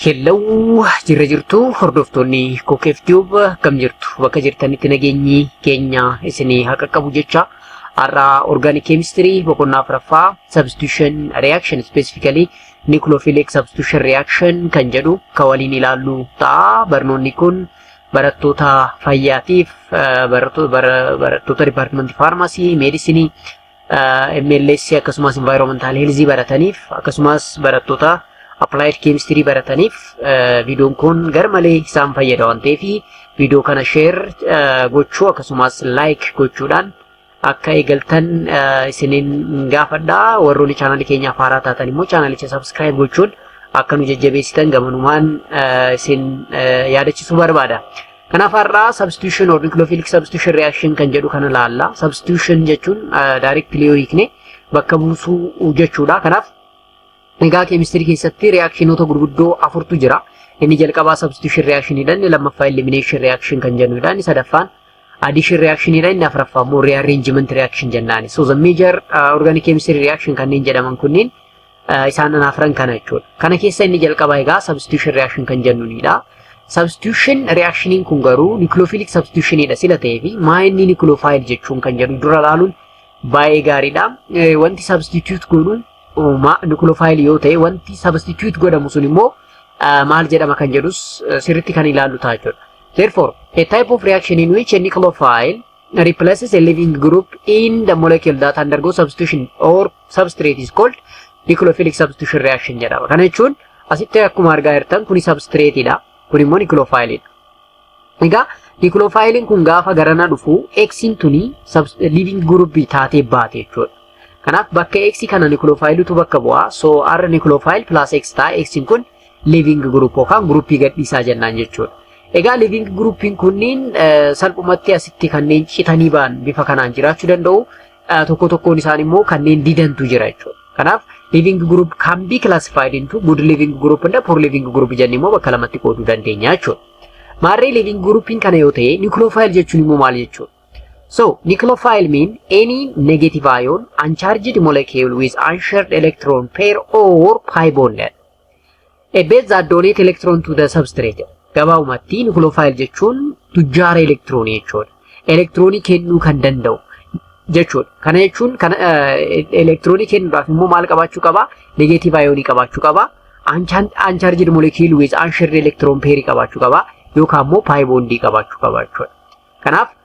Hello jirra jirtu hordoftoonni Kokeef Tube akkam jirtu bakka jirtanitti nageenyi keenya isinii haa qaqqabu jecha har'a organic chemistry boqonnaa afraffaa substitution reaction specifically nucleophilic substitution reaction kan jedhu ka waliin ilaallu ta'a barnoonni kun barattoota fayyaatiif barattoota department faarmaasii meedisinii MLS akkasumas environmental health barataniif akkasumas barattoota applied chemistry barataniif viidiyoon kun garmalee isaan fayyada waan ta'eef viidiyoo kana share gochuu akkasumas like gochuudhaan akka eegaltan isiniin gaafadha warroonni chaanalii keenyaaf haaraa taatan immoo chaanalicha subscribe gochuun akka nu jajjabeessitan gamanumaan isin yaadachiisuu barbaada. Kanaaf har'aa substitution or nucleophilic substitution reaction kan jedhu kana laalla. Substitution jechuun directly yoo hiikne bakka buusuu jechuudha. Kanaaf egaa keemistirii keessatti reactionoota gurguddoo afurtu jira. Inni jalqabaa substitution reaction dha, inni lammaffaa elimination reaction kan jennu dha, inni sadaffaan addition reaction dha, inni afraffaa immoo rearrangement reaction jennaani. So the major uh, organic chemistry reaction kanneen jedhaman kunniin isaan afran kana jechuudha. Kana keessa inni jalqabaa egaa substitution reaction kan jennuunidha. Substitution reactioniin kun garuu nucleophilic substitutionidha sila ta'ee fi maa inni nucleophile jechuun kan jedhu dura ilaaluun baay'ee gaariidha. Wanti substitute godhu nucleophile yoo ta'e wanti substitute godhamu sun immoo maal jedhama kan jedhus sirriitti kan ilaallu ta'a jechuudha. Therefore, a type of reaction in which a nucleophile replaces a living group in the molecule that undergo substitution or substrate is called nucleophilic substitution reaction jedhama. Kana jechuun asitti akkuma argaa jirtan kuni substrate dha. Kun immoo nucleophile dha. Egaa nucleophile kun gaafa garana dhufu X'n tuni living group taatee baate jechuudha. Kanaaf bakka X kana nucleophile tu bakka bu'a. So R nucleophile plus X ta'a. X'n kun living group yookaan gruppii gadhiisaa jennaan jechuudha. Egaa living gruppiin kunniin salphumatti asitti kanneen citanii ba'an bifa kanaan jiraachuu danda'u. Tokko tokkoon isaan immoo kanneen didantu jira jechuudha. Kanaaf living group can be classified into good living group and poor living group jennee immoo bakka lamatti qooduu dandeenya jechuudha. Maarree living grouppiin kana yoo ta'e nucleophile jechuun immoo maal jechuudha? So, nucleophile mean any negative ion uncharged molecule with unshared electron pair or pi bond jedha. A base that donate electron to the substrate. Gabaabumatti nucleophile jechuun tujjaara elektiroonii jechuudha. Elektiroonii kennuu kan danda'u jechuudha. Kana jechuun kana elektiroonii kennuudhaaf immoo maal qabaachuu qaba? Negeetiiv ayoonii qabaachuu qaba. Uncharged molecule with unshared electron pair qabaachuu qaba. Yookaan immoo pi bondii qabaachuu qaba jechuudha. Kanaaf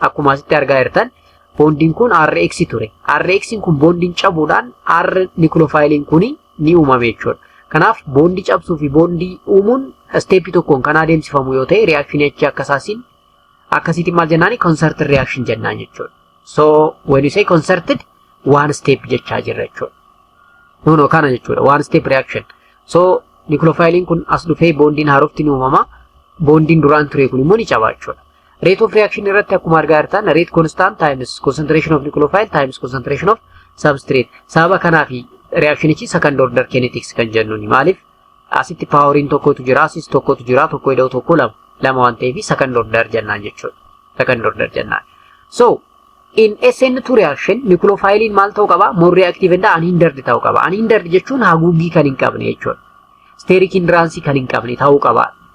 Akkuma asitti argaa jirtan boondiin kun RX ture. RX kun boondiin cabuudhaan R nikuloofaayiliin kun ni uumame jechuudha. Kanaaf boondii cabsuu fi boondii uumuun isteeppii tokkoon kan adeemsifamu yoo ta'e reakshinii achi akkasaasiin akkasiitiin maal jennaani concerted reaction jennaan jechuudha. So when you say concerted one step jechaa jirra jechuudha. No no kana jechuudha one step reaction. So nikuloofaayiliin kun as dhufee boondiin haarofti ni uumama. Boondiin duraan ture kun immoo ni caba jechuudha. Rate of reaction irratti akkuma argaa jirtan rate constant times concentration of nucleophile times concentration of substrate. Sababa kanaa fi reactionichi second order kinetics kan jennuuni. Maaliif asitti paaworiin tokkotu jira, asis tokkotu jira, tokko ida'u tokko lama. Lama waan ta'eef second order jennaan jechuudha. Second order jennaan. So in SN2 reaction nucleophiliin maal ta'uu qaba? More reactive and unhindered ta'uu qaba. Unhindered jechuun haguuggii kan hin qabne jechuudha. Steric hindrance kan hin qabne ta'uu qaba.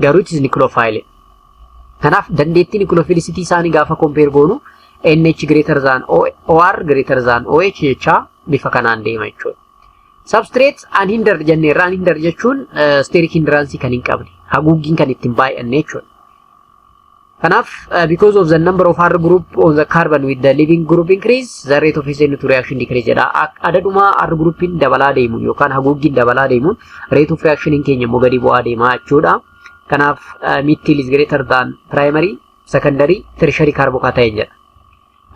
garuu it is nucleophile. Kanaaf dandeettii nucleophilicity isaanii gaafa compare goonu NH greater than OR greater than OH jechaa bifa kanaan deema jechuudha. Substrate unhindered jenneerra unhindered jechuun steric hindrance kan hin qabne haguuggiin kan ittiin baay'anne jechuudha. Kanaaf, uh, because of the number of R group on the carbon with the leaving group increase, the rate of SN to reaction decrease jedha. Ak- Adaduma R groupin dabalaa deemuun yookaan haguuggiin dabalaa deemuun rate of reaction in keenya immoo gadi bu'aa deemaa jechuudha. Kanaaf, uh, methyl is greater than primary, secondary, tertiary carbocation jedha.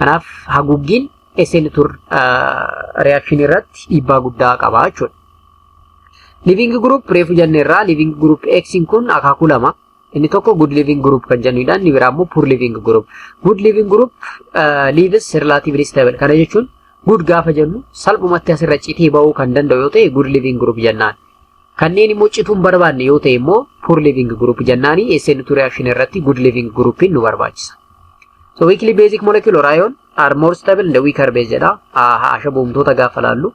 Kanaaf, haguuggiin SN tur uh, reaction irratti dhiibbaa guddaa qaba jechuudha. Living group reefu jenneerraa living group X kun akaakuu lama Inni tokko good living group kan jennuudha. Inni biraa immoo poor living group. Good living group uh, lives relatively stable. Kana jechuun good gaafa jennu salphumatti asirra citee ba'uu kan danda'u yoo ta'e good living group jennaan. Kanneen immoo cituun barbaanne yoo ta'e immoo poor living group jennaani SN2 reaction irratti good living group nu barbaachisa. So weakly basic molecular ion are more stable in the weaker base jedha. Ashaboomtoota gaafa laallu.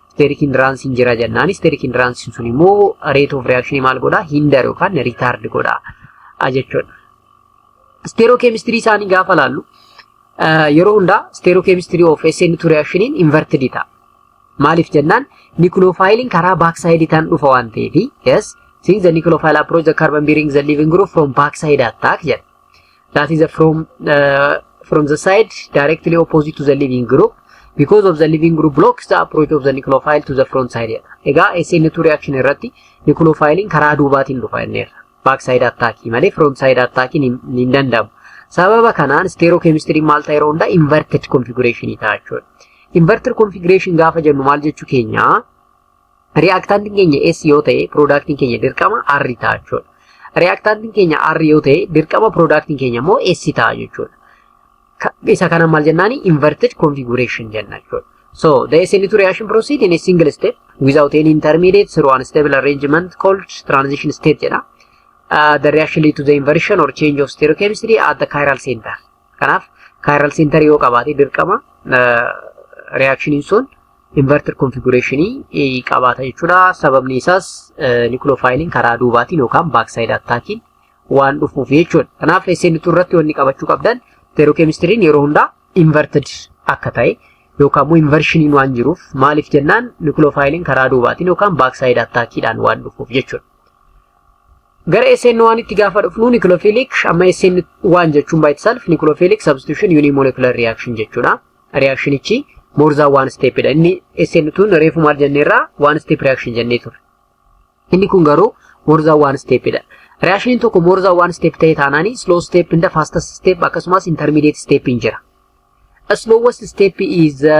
Steric hindrance hin jira jennaan steric hindrance sun immoo rate of reaction maal godha hinder yookaan retard godha jechuudha. Stereochemistry isaanii gaafa laallu yeroo hundaa stereochemistry of SN2 reaction inverted ta'a. Maaliif jennaan nucleophile karaa backside tan dhufa waan ta'eef yes since the nucleophile approach the carbon bearing the living group from backside attack jedha. that is a from uh, from the side directly opposite to the living group because of the living group blocks the approach of the nucleophile to the front side jedha. Egaa SN2 reaction irratti nucleophile'n karaa duubaatiin dhufa inneerra. Back side attack malee front side attack hin danda'amu. Sababa kanaan stereochemistry maal ta'e yeroo hundaa inverted configuration ta'a jechuudha. Inverted configuration gaafa jennu maal jechuu keenyaa? Riyaaktaantiin keenya S yoo ta'e piroodaaktiin keenya dirqama R ta'a jechuudha. Riyaaktaantiin keenya R yoo ta'e dirqama piroodaaktiin keenya immoo S ta'a jechuudha. Isa kana maal jennaani inverted configuration jenna jechuudha. So the SN2 reaction proceed in a single step without any intermediate through unstable arrangement called transition state jedha. Uh, the reaction lead to the inversion or change of stereochemistry at the chiral center. Kanaaf kaayiral seentarii yoo qabaate dirqama reaakshiniin sun inverter konfigureeshinii qabaata jechuudha. Sababni isaas nikuloofaayiliin karaa duubaatiin yookaan baaksaayid attaakiin waan dhufuuf jechuudha. Kanaaf SN2 irratti wanni qabachuu qabdan teerookemistiriin yeroo hundaa inverted akka ta'e yookaan immoo invershiniin waan jiruuf maaliif jennaan nikuloofaayiliin karaa duubaatiin yookaan baaksaayid attaakiidhaan waan dhufuuf jechuudha. Gara SN1 itti gaafa dhufnu nucleophilic amma SN1 jechuun by itself nucleophilic substitution unimolecular reaction jechuudha. Reactionichi more than one step dha. Inni SN2 reefu maal jenneerraa one step reaction jennee ture. Inni kun garuu more than one step dha. Reactioniin tokko more than one step ta'e taanaani slow step inda fastest step akkasumas intermediate step hin jira. Slowest step is the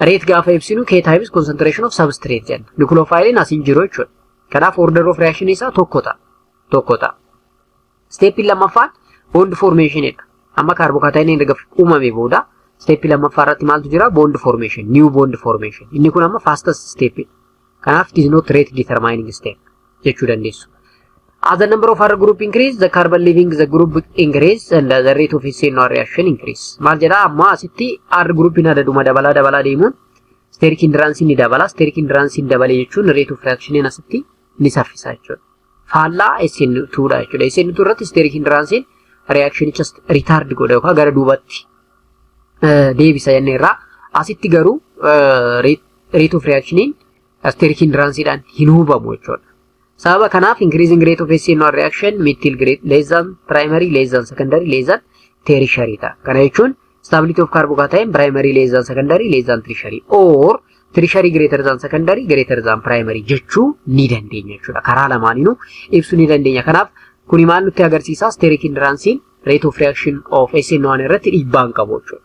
Reet gaafa ibsinu K times concentration of substrate jenna. Nucleophile as hin jiru jechuudha. Kanaaf order of reaction isaa tokko ta'a. Tokko ta'a. Steeppiin lammaffaan bond formation dha. Amma kaarbokaatiin erga uumame booda steeppii lammaffaa irratti maaltu jira? Bond formation, new bond formation. Inni kun amma fastest steeppiidha. Kanaaf it is not rate determining step jechuu dandeessu. As the number of R group increase, the carbon leaving the group increase and the rate of its NR reaction increase. Maal jedhaa amma asitti R groupiin adaduma dabalaa dabalaa deemuun steric hindrance ni dabala. Steric hindrance hin dabale jechuun rate of reactioniin asitti ni saffisa jechuudha. Faallaa SN2 dha jechuudha. SN2 irratti steric hindrance reactionicha retard godha yookaan gara duubatti deebisa jennee irraa asitti garuu rate of reactioniin asteric hindransiidhaan hin hubamu jechuudha. Sababa kanaaf increasing rate of SNR reaction methyl grade less than primary less than secondary less than tertiary ta'a. Kana jechuun stability of carbocation primary less than secondary less than tertiary or tertiary greater than secondary greater than primary jechuu ni dandeenya jechuudha. Karaa lamaaniinuu ibsuu ni dandeenya. Kanaaf kuni maal nutti agarsiisa? Steric hindransiin rate of reaction of SN1 irratti dhiibbaa hin qabu jechuudha.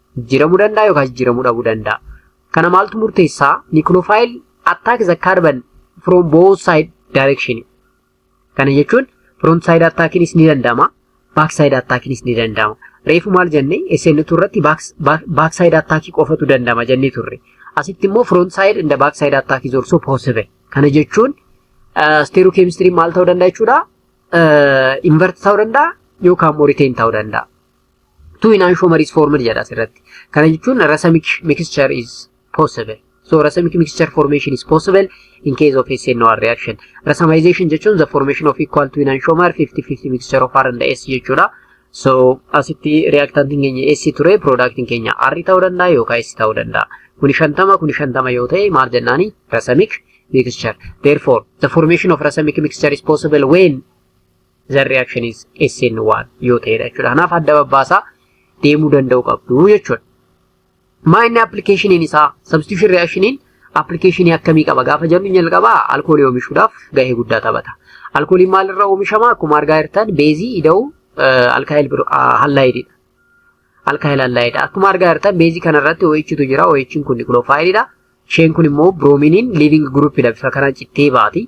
Jijjiiramuu danda'a yookaan jijjiiramuu dhabuu danda'a. Kana maaltu murteessaa? Nucleophile attack the carbon from both side direction. Kana jechuun front side attackinis ni danda'ama. Back side attackinis ni danda'ama. Reefu maal jenne SN2 irratti back side attack qofatu danda'ama jennee turre. Asitti immoo front side and back side attack is also possible. Kana jechuun steeroo keemistiriin maal ta'uu danda'a jechuudha? Invert ta'uu danda'a yookaan immoo retain ta'uu danda'a. Two enantiomer is formed jedha asirratti. Kana jechuun racemic mixture is possible. So racemic mixture formation is possible in case of SNOR reaction. Racemization jechuun the formation of equal to enantiomer 50-50 mixture of R and S jechuudha. So asitti reactantiin keenya S ture productiin keenya R ta'uu danda'a yookaan S ta'uu danda'a. Kuni shantama kuni shantama yoo ta'e maal jennaani racemic mixture. Therefore the formation of racemic mixture is possible when the reaction is SN1 yoo ta'edha jechuudha. Kanaaf adda babbaasaa deemuu danda'u qabdu jechuudha. Maa inni appilikeeshiniin isaa substitution reactioniin appilikeeshinii akkamii qaba gaafa jennu jalqabaa alkoolii oomishuudhaaf gahee guddaa taphata. Alkooliin maalirraa oomishama akkuma argaa jirtan beezii ida'uu alkaayil hallaayididha. Alkaayil hallaayidha. Akkuma argaa jirtan beezii kanarratti OHtu jira. OHn kun nikuloofaayilidha. Isheen kun immoo biroomiiniin liivingi guruupidha. Bifa kanaan cittee baati.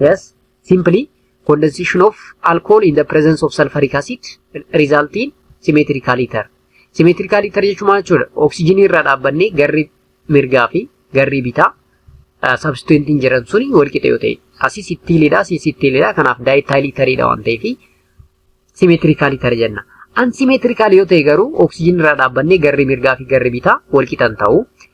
Yes, simply condensation of alcohol in the presence of sulfuric acid result in symmetrical ether. Symmetrical ether jechuun maal jechuudha? Oksijinii irraa dhaabbannee garri mirgaa fi garri bitaa sabstituentiin jiran suni wal qixa yoo ta'e. Asis ittiilidha, asis ittiilidha. Kanaaf daayitaayil itariidha waan ta'eef symmetrical ether jenna. Unsymmetrical yoo ta'e garuu oksijinii irraa dhaabbannee garri mirgaa fi garri bitaa wal qixan ta'u.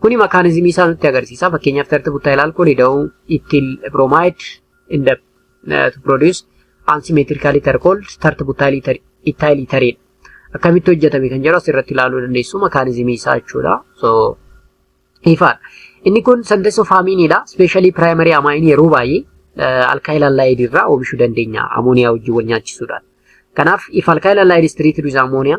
Kuni makaanizimii isaa nutti agarsiisa. Fakkeenyaaf tartiiba buttaa ilaalkoo lida'uu ittiin bromide in the uh, to produce unsymmetrical ether called tartiiba buttaa ether ethyl ethereen akkamitti hojjetame kan jedhu asirratti ilaaluu dandeessu makaanizimii isaa jechuudha. So ifaadha. Inni kun sentence of hamiinidha. Specially primary amine yeroo baay'ee alkaayil allaayid irraa oomishuu dandeenya amooniyaa wajjin wal nyaachisuudhaan. Kanaaf if alkaayil allaayid is treated with ammonia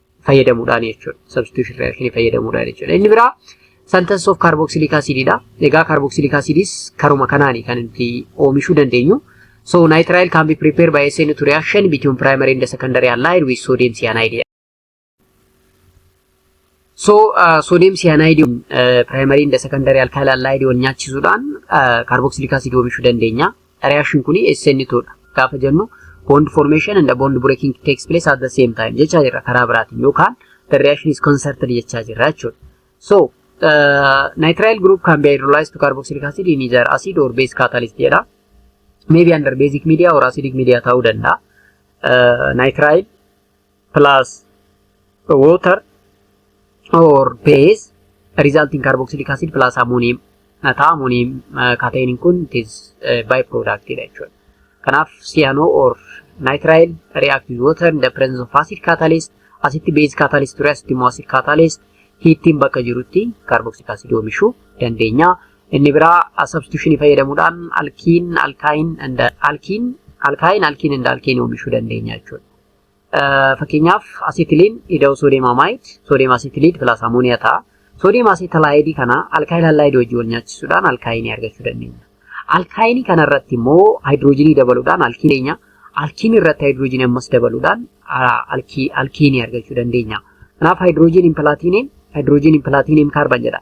fayyadamuudhaan jechuudha. Substitution reaction fayyadamuudhaan jechuudha. Inni biraa sentence of carboxylic acid dha. Egaa carboxylic acids karuma kanaani kan itti oomishuu dandeenyu. So nitrile can be prepared by SN2 reaction between primary and secondary allied with sodium cyanide. So uh, sodium cyanide uh, primary and secondary alkyl allied wal nyaachisuudhaan uh, carboxylic acid oomishuu dandeenya. Reaction kuni SN2 dha. Gaafa jennu bond formation and bond breaking takes place at the same time jechaa jirra karaa biraatiin yookaan the reaction is concerted jechaa jirra jechuudha. So uh, nitrile group can be hydrolyzed to carboxylic acid in either acid or base catalyst jedha. Maybe under basic media or acidic media ta'uu danda'a. Uh, nitrile plus water or base result in carboxylic acid plus ammonium na ta'a ammonium kaatayiniin kun it is by product dha jechuudha. Kanaaf cyano or nitrile react with water in the presence of acid catalyst asitti base catalyst ture asitti immoo acid catalyst hiittiin bakka jirutti carboxylic acid oomishuu dandeenya. Inni biraa substitution fayyadamuudhaan alkiin alkaayin and alkiin alkaayin alkiin and alkiin oomishuu dandeenya jechuudha. Fakkeenyaaf asitiliin ida'u soodiyeem amaayid, soodiyeem asitiliid pilaas amooniyaa ta'a. Soodiyeem asitalaayidii kana alkaayil hallaayidii wajjin wal nyaachisuudhaan alkaayinii argachuu dandeenya. Alkaayinii kana irratti immoo haayidiroojiinii dabaluudhaan alkiin keenya alkiinii irratti haayidiroojiinii ammas dabaluudhaan alkiinii argachuu dandeenya. Kanaaf haayidiroojiiniin pilaatiiniin haayidiroojiiniin pilaatiiniin kaarban jedha.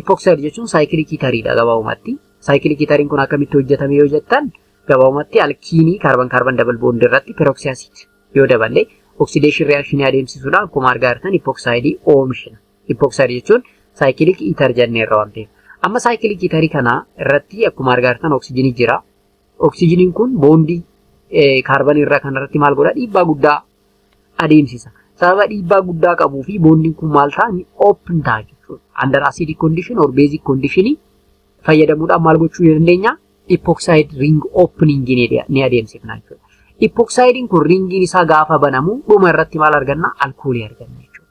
Ipoxide jechuun saayikiliikii tariidha gabaabumatti. Saayikiliikii tariin kun akkamitti hojjetame yoo jettan gabaabumatti alkiinii kaarban kaarban dabal boondii irratti peroksiyasiid yoo daballe oksideeshin riyakshinii adeemsisuudhaan akkuma argaa jirtan ipooksaayidii oomishna. Ipooksaayidii jechuun saayikiliik itar jennee irra waan ta'eef. Amma saayikiliik itarii kana irratti akkuma argaa jirtan oksijinii jira. Oksijiniin kun boondii kaarban irra kanarratti maal godha dhiibbaa guddaa adeemsisa. Sababa dhiibbaa guddaa qabuu fi boondiin kun maal ta'a ni open ta'a jechuudha. Under acidic condition or basic condition fayyadamuudhaan maal gochuu ni dandeenya? Epoxide ring opening ni adeemsifna jechuudha. Epoxidiin kun ringiin isaa gaafa banamu dhuma irratti maal arganna? Alkoolii arganna jechuudha.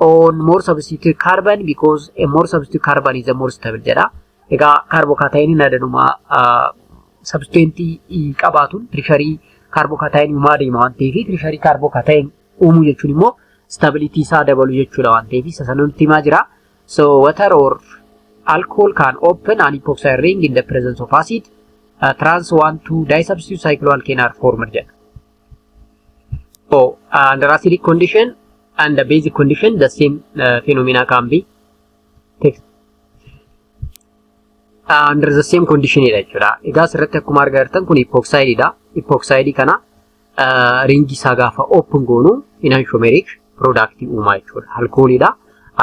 on more substitute carbon because a more substitute carbon is a more stable jedha. Egaa kaarbokaataayiiniin adanuma sabsteentii qabaatuun tirisharii kaarbokaataayiinii uumaa deema waan ta'eef tirisharii kaarbokaataayiin uumuu jechuun immoo stabilitii isaa dabalu jechuudha waan ta'eef isa sana nutti himaa jira. So water or alcohol can open an epoxide ring in the presence of acid. Uh, trans 1 to disubstitute cycloalkane are formed jedha. So, uh, under acidic condition and the basic condition, the same uh, phenomena can be text. Uh, under the same condition dha jechuudha. Egaa asirratti akkuma argaa jirtan kun epoxide dha. Epoxide kana uh, ringi isaa gaafa open goonu enantiomeric product uuma jechuudha. Alkoolii dha.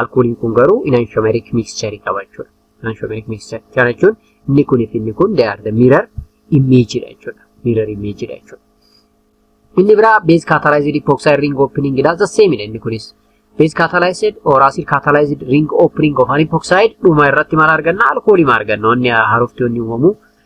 Alkooliin kun garuu enantiomeric mixture qaba jechuudha. Anshomeric mixture kana jechuun inni kun fi inni kun they are the mirror image dha jechuudha. Mirror image dha jechuudha. Inni biraa base catalyzed epoxide ring opening dha the same dha inni kunis. Base catalyzed or acid catalyzed ring opening of an epoxide dhuma irratti maal arganna alkoolii maal arganna wanni haarofti wanni uumamu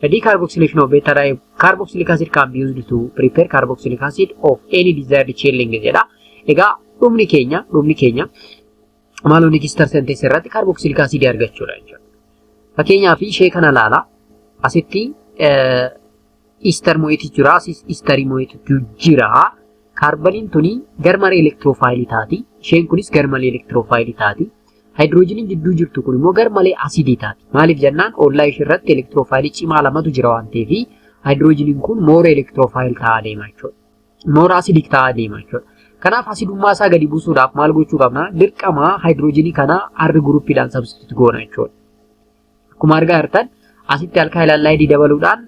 The decarboxylation of beta di carboxylic acid can be used to prepare carboxylic acid of any desired chain length jedha. Egaa dhumni keenya dhumni keenya maaloo register sentence irratti carboxylic acid argachuudha jechuudha. Fakkeenyaaf ishee kana ilaala. Asitti ister mo'eeti jira. Asis isterii mo'eetu jira. Kaarbaniin tuni garmalee elektiroofaayilii taati. Isheen kunis garmalee elektiroofaayilii taati. Haayidiroojiniin jidduu jirtu kun immoo garmalee asiidii taati. Maaliif jennaan ollaa ishee irratti elektiroofaayilii cimaa lamatu jira waan ta'eef haayidiroojiniin kun moora elektiroofaayil ta'aa deema jechuudha. Moora asiidik ta'aa deema jechuudha. Kanaaf asidummaa isaa gadi buusuudhaaf maal gochuu qabna? Dirqama haayidiroojinii kana R guruuppiidhaan sabstituut goona jechuudha. Akkuma argaa jirtan asitti alkaayil allaayidii dabaluudhaan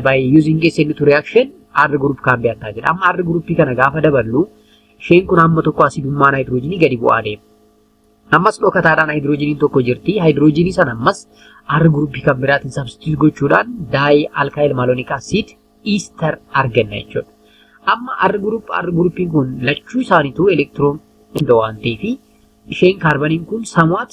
by using SN2 reaction R group kan beektaa jedha. Amma R groupii kana gaafa daballu isheen kun hamma tokko asidummaa naayitiroojiinii gadi bu'aa deema. Ammas dhokataadhaan haayidiroojiiniin tokko jirti. Haayidiroojiinii sana ammas R groupii kan biraatiin substitute gochuudhaan daayi alkaayil maaloniik asiid iistar arganna jechuudha. Amma R group R groupiin kun lachuu isaaniitu elektiroon hunda waan ta'eef isheen kaarbaniin kun samuwaat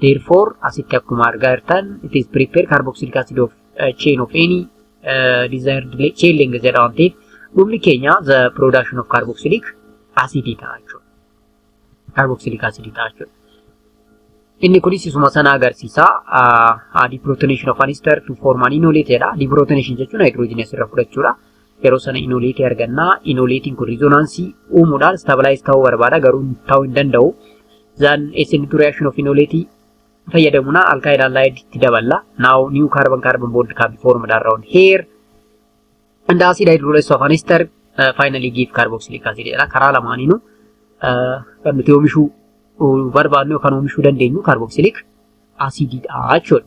Therefore, asitti akkuma argaa jirtan, it is prepared carboxylic acid of uh, chain of any uh, desired le- chain length jedha waan ta'eef dhumni keenya the production of carboxylic acid ta'a jechuudha. Carboxylic acid ta'a jechuudha. Inni kunis isuma sana agarsiisa. Uh, deprotonation of an ester to form an enolate jedha. Deprotonation jechuun hydrogen asirra fudhachuudha. yeroo sana inoleetii arganna. Inoleetiin kun riizonaansii uumuudhaan istaabilize ta'uu barbaada garuu ta'uu hin danda'u. Zaan SN2 reaction of inoleetii fayyadamuna alkaayid alkaayid itti daballa. Now new carbon carbon bond can be formed around here. And acid hydrolysis of an ester uh, finally give carboxylic acid jedha. Karaa lamaaniinu uh, kan nuti oomishuu barbaadnu yookaan oomishuu dandeenyu carboxylic acididha jechuudha.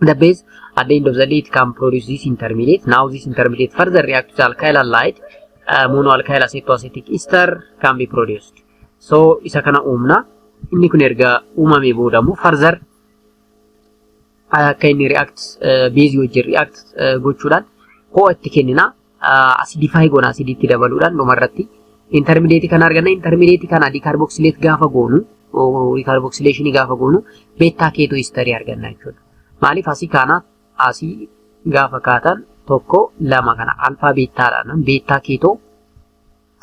The base at the end of the day it can produce this intermediate. Now this intermediate further react to the alkyl halide. Uh, monoalkyl acetoacetic ester can be produced. So isa kana uumna. Inni kun erga uumamee booda immoo further akka inni react uh, base wajjin react uh, gochuudhaan ho'a itti kennina. asidifaayi goona asidiitti dabaluudhaan dhumarratti intermideetii kana arganna intermideetii kana diikaarboksileet gaafa goonu diikaarboksileeshinii gaafa goonu beettaa keetoo istarii arganna jechuudha. Maaliif asii kaanaaf asii gaafa kaatan tokko lama kana alfaa beettaadhaan beettaa keetoo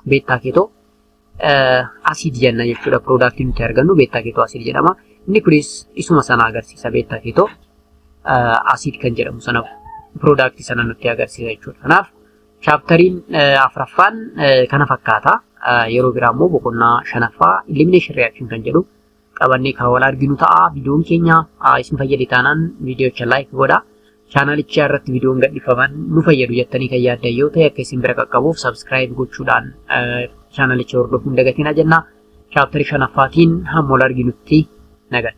beettaa keetoo asiid jenna jechuudha. Piroodaaktiin nuti argannu beettaa keetoo asiid jedhama. Inni kunis isuma sana agarsiisa beettaa keetoo asiid kan jedhamu sana piroodaaktii sana nutti agarsiisa jechuudha. Kanaaf chaaptariin afraffaan kana fakkaata. Yeroo biraa immoo boqonnaa shanaffaa elimination reaction kan jedhu qabannee kan wal arginu ta'a. Viidiyoon keenya isin fayyade taanaan viidiyocha laayik godha. Chaanalichaa irratti viidiyoon gadhifaman nu fayyadu jettanii kan yaaddan yoo ta'e akka isin bira qaqqabuuf sabskiraayib gochuudhaan chaanalicha hordofuu hin dagatinaa jenna. Chaaptarii shanaffaatiin hamma wal arginutti nagaan.